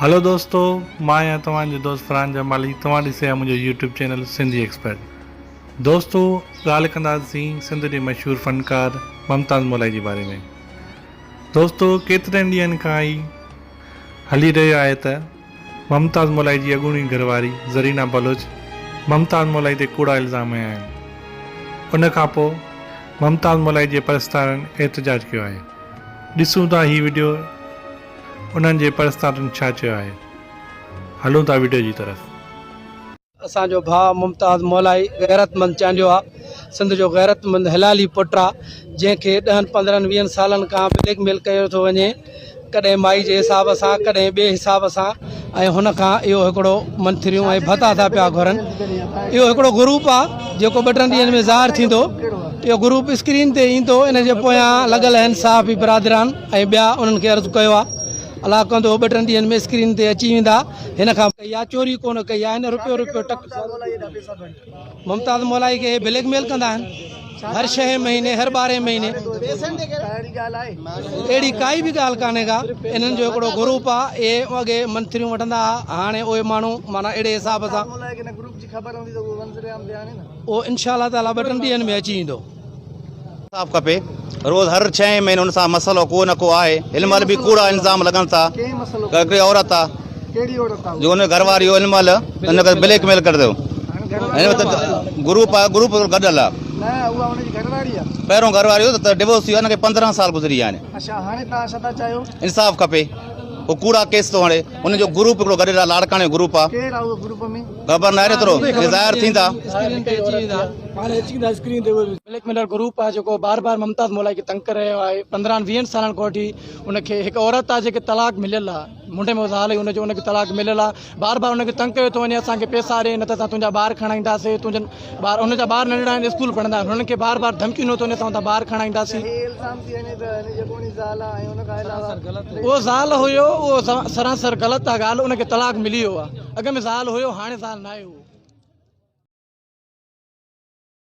هلو دوستو مان آهيان توهان جو دوست فرحان جمالي توهان ڏسي رهيا منهنجو يوٽيوب چينل سنڌي ايڪسپرٽ دوستو ڳالهه ڪنداسين سنڌ جي مشهور فنڪار ممتاز مولائي جي باري ۾ دوستو ڪيترن ڏينهن کان هي هلي رهيو آهي ته ممتاز مولائي جي اڳوڻي گهر واري زرينا بلوچ ممتاز مولائي تي ڪوڙا الزام هنيا آهن، ان کان پوء ممتاز مولائي جي پرستارن احتجاج ڪيو آهي، ڏسون ٿا هي وڊيو انهن جي پرستارن ڇا چيو آهي، هلون ٿا وڊيو جي طرف. اسان جو ڀاء ممتاز مولائي غيرتمند چانڊيو آ سنڌ جو غيرتمند حلالي پٽ آ جنهن کي ڏهن پندرهن ويهن سالن کان بليڪ ميل ڪيو ٿو وڃي ڪڏهن مائي جي حساب سان ڪڏهن ٻي حساب سان ۽ هن کان اهو هڪڙو منٿريون ۽ ڀتا ٿا پيا گهرن اهو هڪڙو گروپ آ جيڪو ٻه ٽن ڏينهن ۾ ظاهر ٿيندو اهو گروپ اسڪرين تي ايندو ان جي پويان لڳل اهن صحافي برادران ۽ ٻيا انهن کي عرض ڪيو آ الاء ڪندو هو ٻه ٽن ڏينهن ۾ اسڪرين تي اچي ويندا هن کان ڪئي آ چوري ڪونه ڪئي آ هن رپيو رپيو ٽڪ ممتاز مولائي کي هي بليڪ ميل ڪندا آهن هر شهين مهيني هر ٻارهين مهيني اهڙي ڪائي به ڳالهه ڪانهي ڪا انهن جو هڪڙو گروپ آ اهي اڳي منٿريون وٺندا ها هاڻي اهي ماڻهو معنيٰ اهڙي حساب سان اهو انشاء الله تعالي ٻه ٽن ڏينهن ۾ اچي ويندو انصاف کپي روز هر ڇهين مهيني ان سان مسئلو ڪو نه ڪو آهي هن مهل به ڪوڙا الزام لڳن ٿا هڪڙي عورت آ جو ان گهر واري هن مهل ان کي بليڪ ميل ڪري ٿو هن وقت گروپ آ گروپ گڏل آ پهريون گهر واري هو ته ڊيوورس ٿي هن کي 15 سال گذري ويا آهن انصاف کپي هو ڪوڙا ڪيس ٿو هڻي ان جو گروپ هڪڙو گڏل آ لاڙڪاڻي گروپ آ خبر ناهي ايترو ظاهر ٿيندا اسڪرين تي اچي ويندا هاڻي اچي ويندا اسڪرين تي بليڪ ميلر گروپ آهي جيڪو بار بار ممتاز مولائي کي تنگ ڪري رهيو آهي پندرهن ويهن سالن کان وٺي ان کي هڪ عورت آهي جيڪي طلاق مليل آهي منڊي ۾ زال ان جو ان کي طلاق مليل آهي بار بار ان کي تنگ ڪيو ٿو وڃي اسان کي پيسا ڏي نه ته اسان تنهنجا ٻار کڻائينداسي تنهنجن ٻار ان جا ٻار ننڍڙا آهن اسڪول پڙهندا آهن هنن کي بار بار ڌمڪيون ڏنو ٿو وڃي اسان تنهنجا ٻار کڻائينداسين اهو زال هيو اهو سراسر غلط آهي ڳالهه ان کي طلاق ملي ويو آهي اڳ ۾ زال هيو هاڻي زال ناهي هو.